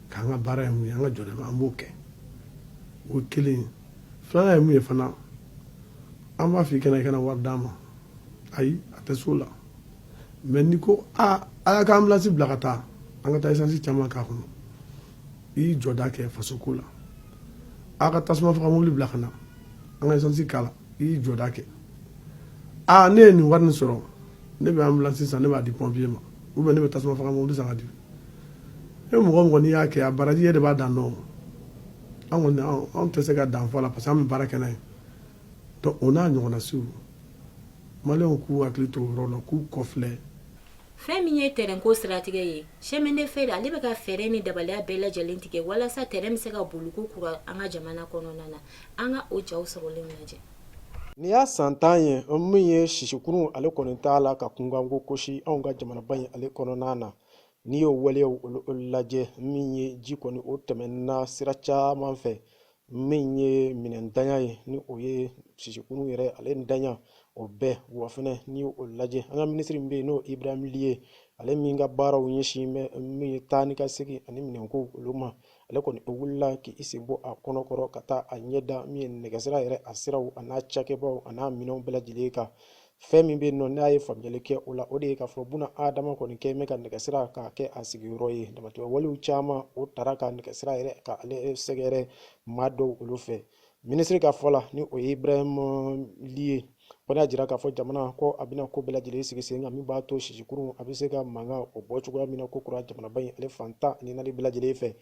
K'an ka baara ye mun ye an ka jɔda an b'o kɛ o kelen filanan ye mun ye fana an b'a fɔ i kana i kana wari d'an ma ayi a tɛ so la mɛ n'i ko aa a y'a ka ambulance bila ka taa an ka taa isansi caman k'a kɔnɔ i y'i jɔda kɛ faso ko la aw ka tasuma faga mobili bila ka na an ka isansi k'a la i y'i jɔda kɛ aa ne ye nin wari nin sɔrɔ ne bɛ ambulance san ne b'a di pompier ma ou bien ne bɛ tasuma faga mobili san ka di e mɔgɔ mɔgɔ n'i y'a kɛ a baraji yɛrɛ de b'a dan dɔn an kɔni anw tɛ se ka dan fɔ a la parce que an bɛ baara kɛ n'a ye donc o n'a ɲɔgɔnna siw maliyɛnw k'u hakili to o yɔrɔ la k'u kɔfilɛ fɛn min ye tɛrɛnko siratigɛ ye chemin de fer ale bɛ ka fɛɛrɛ ni dabaliya bɛɛ lajɛlen tigɛ walasa tɛrɛn bɛ se ka boli ko kura an ka jamana kɔnɔna na an ka o jaw sɔrɔlen lajɛ Nin y'a san tan ye min ye sisikurun ale kɔni t'a la ka kunkanko kosi anw ka jamanaba in ale kɔnɔna na n'i y'o waleyaw lajɛ min ye ji kɔni o tɛmɛnna sira caman fɛ min ye minɛnntanya ye ni o ye sisikurun yɛrɛ ale ntanya o bɛɛ wa fɛnɛ n'i y'o lajɛ an ka minisiri min bɛ yen n'o Ibrahim Ly ye ale min ka baaraw ɲɛsin bɛ min ye taa ni ka segin ani minɛnko olu ma ale kɔni o wulila k' i sen bɔ a kɔnɔkɔrɔ ka taa a ɲɛda min ye nɛgɛsira yɛrɛ a siraw a n'a cakɛbaaw a n'a minɛnw bɛɛ lajɛlen kan fɛn min bɛ yen nɔ n'a ye faamuyali kɛ o la o de ye k'a fɔ bunadama kɔni kɛn bɛ ka nɛgɛsira k'a kɛ a sigiyɔrɔ ye damatɛmɛ walew caman o taara ka nɛgɛsira yɛrɛ ka ale sɛgɛrɛ maa dɔw olu fɛ minisiri ka fɔ la ni o ye Ibrahim Ly ye kɔni y'a jira k'a fɔ jamana ko a bɛna ko bɛɛ lajɛlen sigi sen kan min b'a to sisikurun a bɛ se ka mankan o bɔ cogoya min na ko kura jamanaba in ale fan tan ni naani bɛɛ lajɛlen fɛ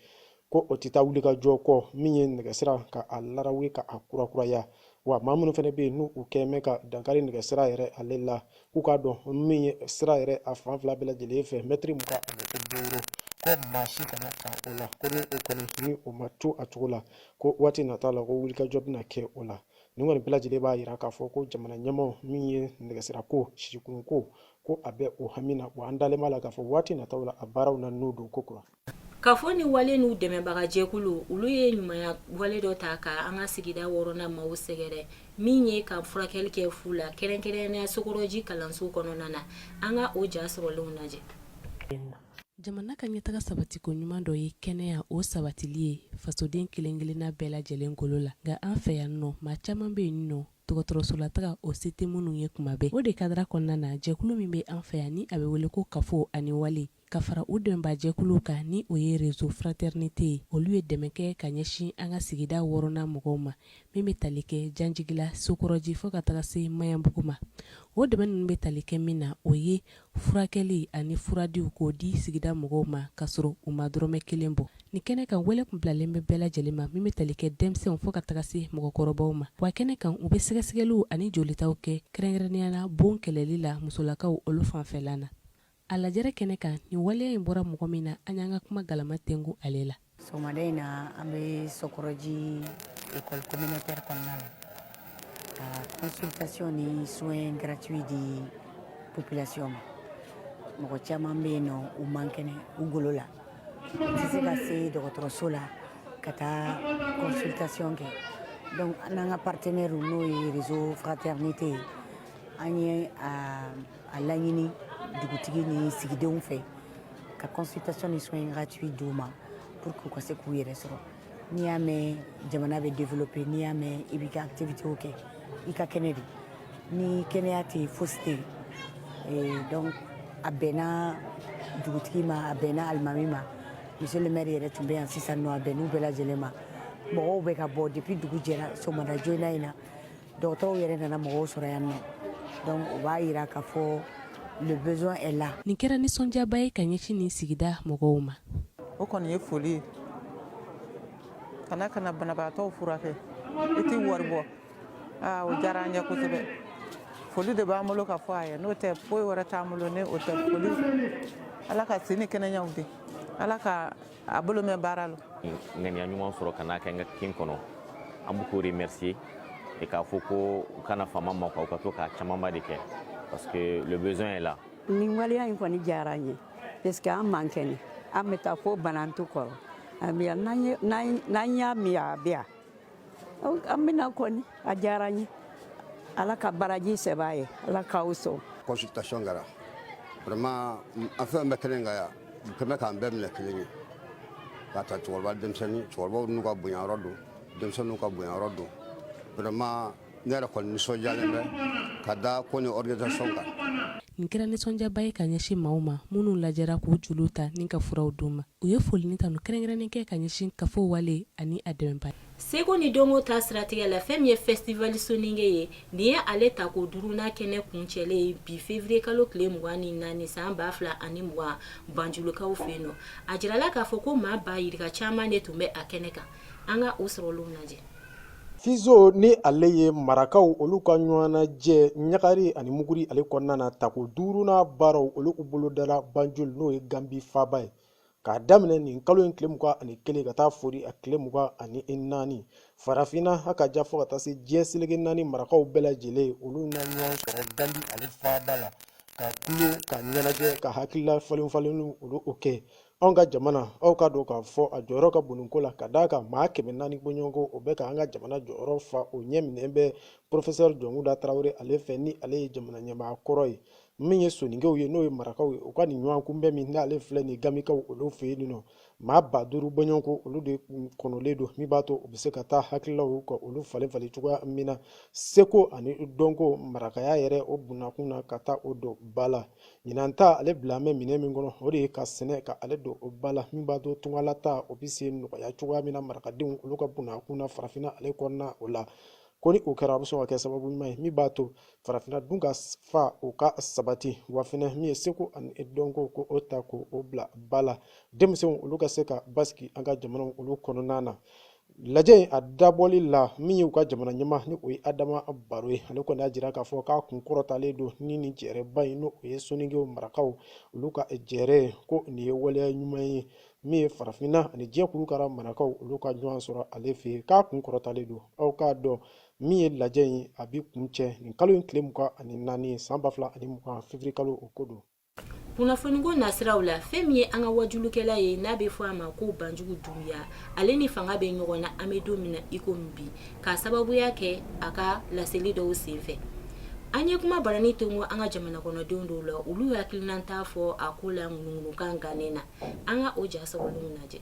ko o tɛ taa wulikajɔ kɔ min ye nɛgɛsira ka a larawe ka a kurakuraya wa maa minnu fana bɛ yen n'u kɛn bɛ ka dankari nɛgɛsira yɛrɛ ale la k'u k'a dɔn min ye sira yɛrɛ a fan fila bɛɛ lajɛlen fɛ mɛtiri mugan ani mɛtiri duuru ko maa si kana ta o la ko ni o kɔni ni o ma to a cogo la ko waati nata la ko wulikajɔ bɛna kɛ o la nin kɔni bɛɛ lajɛlen b'a jira k'a fɔ ko jamana ɲɛmaaw min ye nɛgɛsirako sisikurunko ko a bɛ o hami na wa an dalen b'a la k'a fɔ waati nataw la a baaraw na n'o don ko kura Kafo ni wale n'u dɛmɛbagajɛkulu olu ye ɲumanya wale dɔ ta ka an ka sigida wɔɔrɔnan maaw sɛgɛrɛ min ye ka furakɛli kɛ fu la kɛrɛnkɛrɛn sokɔrɔji kalanso kɔnɔna na an ka o ja sɔrɔlenw lajɛ jamana ka ɲɛtaga sabatiko ɲuman dɔ ye kɛnɛya o sabatili ye fasoden kelen-kelenna bɛɛ lajɛlen kolo la nka an fɛ yan nɔ maa caman bɛ yen nɔ dɔgɔtɔrɔsolataga o se tɛ minnu ye kuma bɛɛ o de kadara kɔnɔna na jɛkulu min bɛ an fɛ yan ni a bɛ wele ko kafo ani wale ka fara u dɛmɛnbaajɛkulu kan ni o ye réseau fraternité ye olu ye dɛmɛ kɛ ka ɲɛsin an ka sigida wɔɔrɔnan mɔgɔw ma min bɛ tali kɛ janjigila sokɔrɔji fɔ ka taga se maɲanbugu ma o dɛmɛ ninnu bɛ tali kɛ min na o ye furakɛli ani furadiw k'o di sigida mɔgɔw ma ka sɔrɔ u ma dɔrɔmɛ kelen bɔ ni kɛnɛ kan wele tun bilalen bɛ bɛɛ lajɛlen ma min bɛ tali kɛ denmisɛnw fɔ ka taga se mɔgɔkɔrɔbaw ma wa kɛnɛ kan u bɛ sɛgɛsɛgɛliw ani jolitaw kɛ kɛrɛnkɛrɛnnenya la bon kɛlɛli la musolakaw olu fanfɛla na A lajɛrɛ kɛnɛ kan nin waleya in bɔra mɔgɔ min na an y'an ka kuma galama tengu ale la. Sɔgɔmada in na an bɛ Sɔkɔrɔji école communautaire kɔnɔna la ka consultation ni soins gratuits di population ma. Mɔgɔ caman bɛ yen nɔ u man kɛnɛ u golo la, u tɛ se ka se dɔgɔtɔrɔso la ka taa consultation kɛ donc an n'an ka partenaires n'o ye réseau fraternité ye an ye a A laɲini dugutigi ni sigidenw fɛ ka consultation ni soins gratuits di u ma pour que u ka se k'u yɛrɛ sɔrɔ n'i y'a mɛn jamana bɛ développer n'i y'a mɛn i b'i ka activité kɛ i ka kɛnɛ de ni kɛnɛya tɛ foyi tɛ yen donc a bɛnna dugutigi ma a bɛnna alimami ma monsieur le maire yɛrɛ tun bɛ yan sisan nɔ a bɛnn'u bɛɛ lajɛlen ma mɔgɔw bɛ ka bɔ depuis dugu jɛra sɔgɔmada joona in na dɔgɔtɔrɔw yɛrɛ nana mɔgɔw sɔrɔ yan nɔ donc o b'a yira k'a fɔ le besoin est là nin kɛra nisɔndiyaba ye ka ɲɛsin nin sigida mɔgɔw ma o kɔni ye foli ye ka na ka na banabagatɔw furakɛ i tɛ wari bɔ aa o diyara an ye kosɛbɛ foli de b'an bolo ka fɔ a ye n'o tɛ foyi wɛrɛ t'an bolo ni o tɛ foli ala ka si ni kɛnɛyaw di ala ka a bolo mɛn baara la ŋaniya ɲuman sɔrɔ ka n'a kɛ n ka kin kɔnɔ an b'u k'o remercier et k'a fɔ ko u kana fama an ma quoi u ka to k'a camanba de kɛ parce que le besoin est là nin waleya in kɔni diyara an ye parce que an man kɛnɛ an bɛ taa fo banantu kɔrɔ n'an y'a mɛn a bɛ yan an bɛ na kɔni a diyara n ye ala ka baraji sɛbɛn a ye ala k'aw sɔn consultation kɛra vraiment enfin bɛɛ kelen ka yan kɛmɛ bɛ k'an bɛɛ minɛ kelen ye k'a ta cɛkɔrɔba denmisɛnnin cɛkɔrɔbaw n'u ka bonyayɔrɔ don denmisɛnninw ka bonyayɔrɔ don vraiment ne yɛrɛ kɔni nisɔndiyalen bɛ ka da ko ni organisation kan. Nin kɛra nisɔndiyaba ye ka ɲɛsin maaw ma minnu lajɛra k'u joliw ta ni ka furaw d'u ma. U ye foli ni tanu kɛrɛnkɛrɛnnen kɛ ka ɲɛsin kafo wale ani a dɛmɛbaa. Seko ni dɔnko ta siratigɛ la, fɛn min ye Festival Soninke ye, nin ye ale tako duurunan kɛnɛ kuncɛlen ye bi février kalo tile mugan ni naani san ba fila ani mugan Banjulukaw fɛ yen nɔ. A jirala k'a fɔ ko maa ba yirika caman de tun bɛ a kɛnɛ kan. an ka o sɔrɔlenw lajɛ fizo ni ale ye marakaw olu ka ɲɔgɔnnajɛ ɲagari ani muguri ale kɔnɔna na tako duurunan baaraw olu u bolodala banjul n'o ye ganbi faaba ye k'a daminɛ nin kalo in tile mugan ani kelen ka taa fori a tile mugan ani naani farafinna ha ka ja fo ka taa se diɲɛ seleke naani marakaw bɛɛ lajɛlen olu na ɲɔgɔn sɔrɔ ganbi ale faaba la ka tulon ka ɲɛnajɛ ka hakilila falenfalen olu o kɛ anw ka jamana aw k'a dɔn k'a fɔ a jɔyɔrɔ ka bon nin ko la ka d'a kan maa kɛmɛ naani bɔɲɔgɔnko o bɛ ka an ka jamana jɔyɔrɔ fa o ɲɛminɛ bɛ porofesɛri jɔnkunda tarawele ale fɛ ni ale ye jamana ɲɛmaa kɔrɔ ye min ye soninkew ye n'o ye marakaw ye u ka nin ɲɔgɔn kunbɛn min n'ale filɛ nin gamikaw olu fɛ yen nɔ maa ba duuru bɔɲɔgɔnko olu de kɔnɔlen don min b'a to u bɛ se ka taa hakililaw ka olu falenfalen cogoya min na seko ani dɔnko marakaya yɛrɛ o bunnakun na ka taa o don ba la Ɲinan ta ale bila mɛn minɛ min kɔnɔ o de ye ka sɛnɛ ka ale don o ba la min b'a to tungalataa o bɛ se nɔgɔya cogoya min na marakadenw olu ka bunnakun na farafinna ale kɔnɔna o la ko ni o kɛra a bɛ sɔn ka kɛ sababu ɲuman ye min b'a to farafinna dunkafa o ka sabati wa fɛnɛ min ye seko ani dɔnko k'o ta k'o bila ba la denmisɛnw olu ka se ka basigi an ka jamanaw olu kɔnɔna na Lajɛ in a dabɔli la min y'u ka jamana ɲɛmaa ni o ye adama baro ye ale kɔni y'a jira k'a fɔ k'a kun kɔrɔtalen don ni nin jɛrɛba in n'o ye soninkew marakaw olu ka jɛrɛ ko nin ye waleya ɲuman ye min ye farafinna ani diɲɛ kurukara marakaw olu ka ɲɔgɔn sɔrɔ ale fɛ yen k'a kun kɔrɔtalen don aw k'a dɔn min ye lajɛ in a bi kuncɛ nin kalo in tile mugan ani naani san ba fila ani mugan février kalo o ko don kunnafoniko nasiraw la fɛn min ye an ka waajulikɛla ye n'a bɛ fɔ a ma ko banjugu dunbiya ale ni fanga bɛ ɲɔgɔn na an bɛ don min na iko min bi k'a sababuya kɛ a ka laseli dɔw sen fɛ an ye kuma barani tonko an ka jamana kɔnɔdenw dɔw la olu hakilinanta fɔ a ko la ŋunuŋunukan gannen na an ka o ja sɔrɔlenw lajɛ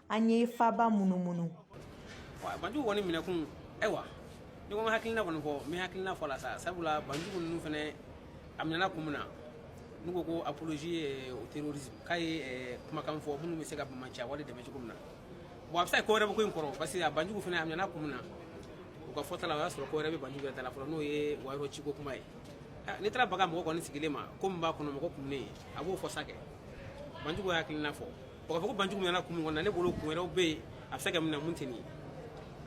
an ye faaba munumunu banjugu kɔni minɛkun ayiwa n'i ko n hakilina kɔni fɔ n bɛ hakilina fɔ la sa sabula banjugu ninnu fɛnɛ a minɛna kun min na n'u ko ko apologie au terrorisme k'a ye kumakan fɔ minnu bɛ se ka banbaanciya wale dɛmɛ cogo min na bon a bɛ se ka ko wɛrɛ bɛ ko in kɔrɔ parce que a banjugu fɛnɛ a minɛna kun min na u ka fɔta la o y'a sɔrɔ ko wɛrɛ bɛ banjugu yɛrɛ ta la fɔlɔ n'o ye wayɔrɔ ciko kuma ye n'i taara baga mɔgɔ kɔni sigilen ma ko min b'a kɔnɔ mɔgɔ kumunen a b'o fɔ sa kɛ banjugu hakilina fɔ O k'a fɔ ko banjugu minɛna kun min kɔnɔ ne bolo kun wɛrɛw bɛ yen a bɛ se ka minɛ min tɛ nin ye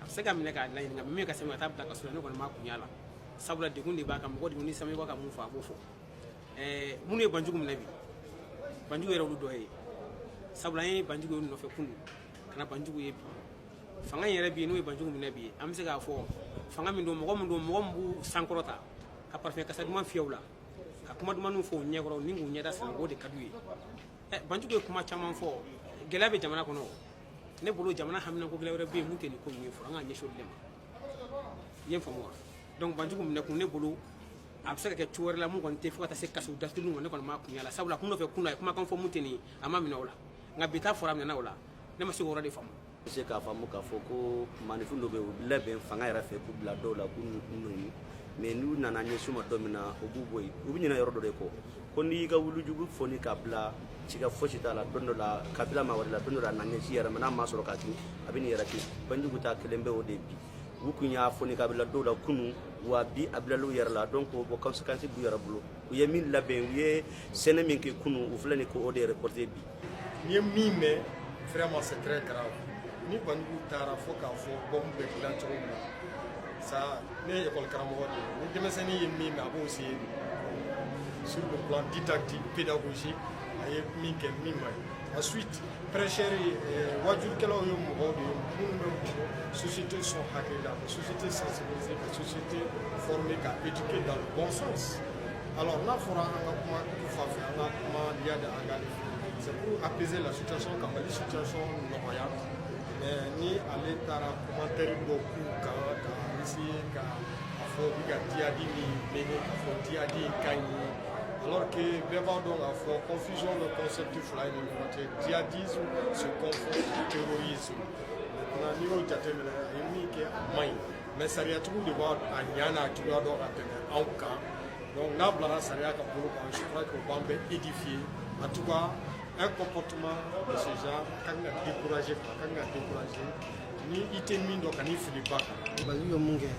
a bɛ se ka minɛ k'a laɲini nka min ka sɛbɛn ka taa bila kaso la ne kɔni ma kun y'a la sabula degun de b'a kan mɔgɔ degunnen sami b'a ka mun fɔ a b'o fɔ ɛɛ minnu ye banjugu minɛ bi banjugu yɛrɛ olu dɔ ye sabula an ye banjugu ye nɔfɛ kunun ka na banjugu ye bi fanga in yɛrɛ bi n'o ye banjugu minɛ bi an bɛ se k'a fɔ fanga min don mɔgɔ min don mɔgɔ min b'u sankɔrɔta ka parfum kasa duman fiyɛ u la ka kuma dumaniw fɔ u ɲɛkɔrɔ ni k'u ɲɛda siran o de ka d'u ye Eh, Banjugu ye kuma caman fɔ gɛlɛya bɛ jamana kɔnɔ ne bolo jamana haminako gɛlɛya wɛrɛ bɛ yen mun tɛ nin ko ninnu ye fɔlɔ an ka ɲɛsin olu de ma i ye n faamu wa donc Banjugu minɛ kun ne bolo a bɛ se ka kɛ cogo wɛrɛ la mun kɔni tɛ fo ka taa se kaso datuguli ma ne kɔni m'a kun y'a la sabula kunun nɔfɛ kunun na a ye kumakan fɔ mun tɛ nin ye a ma minɛ o la nka bi ta fɔra a minɛna o la ne ma se k'o yɔrɔ de faamu Bɛ se k'a faamu k'a fɔ ko maanifin dɔ bɛ yen u labɛn fanga yɛrɛ fɛ k'u bila dɔw la k'u nɛni mais n'u nana ɲɛsin u ma don min na u b'u bɔ yen u bɛ ɲinɛ yɔrɔ dɔ de kɔ ko n'i y'i ka wulujugu foni k'a bila siga foyi si t'a la don dɔ la k'a bila maa wɛrɛ la don dɔ la a na ɲɛsin i yɛrɛ ma n'a ma sɔrɔ k'a kin a bɛ n'i yɛrɛ kin Banjugu ta kɛlen bɛ o de bi u tun y'a foni k'a bila dɔw la kunun wa bi a bilal'u yɛrɛ la donc o conséquence b'u yɛrɛ bolo u ye min labɛn u ye sɛnɛ min kɛ kunun u filɛ nin k'o de récolter bi N ye min mɛn vraiment c'est très grave ni Banjugu taara fo k'a fɔ bɔmu bɛ dilan cogo min na ça ne ye école karamɔgɔ de ye ni denmisɛnnin ye min mɛn a b'o essayer sur le plan didactique pédagogique a ye min kɛ min man ɲi ensuite prêcheurs ye eh, wajurukɛlaw ye mɔgɔw de ye minnu bɛ mɔgɔ société sɔn hakili la ka société sensibiliser ka société former ka éduquer dans le bon sens Alors n'a fɔra an ka kuma du fan fɛ an ka kuma diya de an ka c'est pour apaiser la situation ka Mali situation nɔgɔya mais ni ale taara commentaire dɔw k'u kan ka essayer ka a fɔ u bɛ ka djihad min mener k'a fɔ djihad in ka ɲi alors que bɛɛ b'a dɔn k'a fɔ confusion bɛ concept fila in ni ɲɔgɔn cɛ djihadisme se confond terrorisme maintenant n'i y'o jateminɛ a ye min kɛ a man ɲi mais sariyatigiw de b'a a ɲa n'a cogoya dɔn ka tɛmɛ anw kan donc n'a bilara sariya ka bolo kan je crois que o b'an bɛɛ édifier en tout cas un comportement de ce genre a ka kan ka décourager quoi a ka kan ka décourager ni i tɛ min dɔn kan'i fili ba kan. Banjugu ye mun kɛ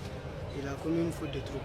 il a commis une faute de trop.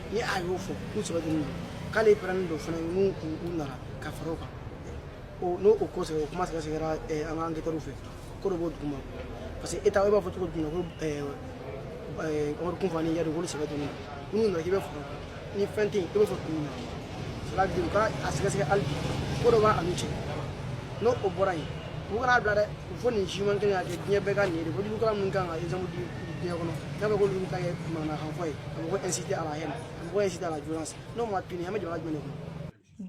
ni a y'o fɔ k'u sɛbɛdonni don k'ale pɛrɛnnen don fana n'u nana ka fara o kan n'o o ko sɛbɛ o kuma sɛgɛsɛgɛra an ka anketɛriw fɛ ko dɔ b'o duguma parce que e ta e b'a fɔ cogo jumɛn ko Amadu Kufa ni Iyad k'olu sɛbɛ donni n'u nana k'i bɛ fara ni fɛn tɛ yen i b'o fɔ mun na cela veut dire u ka a sɛgɛsɛgɛ hali bi ko dɔ b'a n'u cɛ n'o o bɔra yen u kan'a bila dɛ u fɔ nin siman kelen ka kɛ diɲɛ bɛɛ ka nin ye de ko wajurukɛla minnu kan ka exemple di diɲɛ kɔnɔ n'a bɛ k'olu ta kɛ manamanakan fɔ ye a bɛ k'u inciter à la haine a bɛ k'u inciter à la violence n'o ma puni an bɛ jamana jumɛn de kɔnɔ.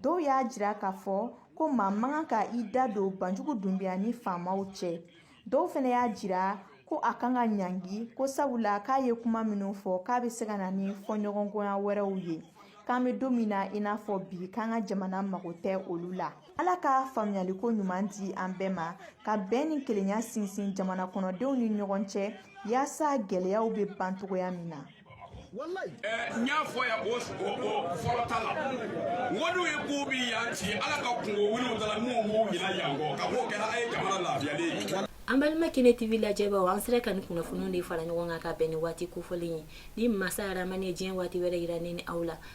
Dɔw y'a jira k'a fɔ ko maa man kan ka i da don Banjugu Dunbiya ni faamaw cɛ dɔw fana y'a jira ko a kan ka ɲangi ko sabula k'a ye kuma minnu fɔ k'a bɛ se ka na ni fɔɲɔgɔnkɔya wɛrɛw ye k'an bɛ don min na i n'a fɔ bi k'an ka jamana mago tɛ olu la ala ka faamuyaliko ɲuman di an bɛɛ ma ka bɛn ni kelenya sinsin jamana kɔnɔdenw ni ɲɔgɔn cɛ yaasa gɛlɛyaw bɛ ban cogoya min na n y'a fɔ yan o fɔlɔ ta la wariw ye ko bi yan ci ala ka kunko wiliw dala minnu b'u ɲina yan kɔ ka b'o kɛra a ye jamana lafiyalen ye an balima kene tv lajɛbaaw an sera ka ni kunnafoniw de fara ɲɔgɔn kan ka bɛn ni waati kofɔlen ye ni masa aramani ye diɲɛ waati wɛrɛ yira ne ni aw la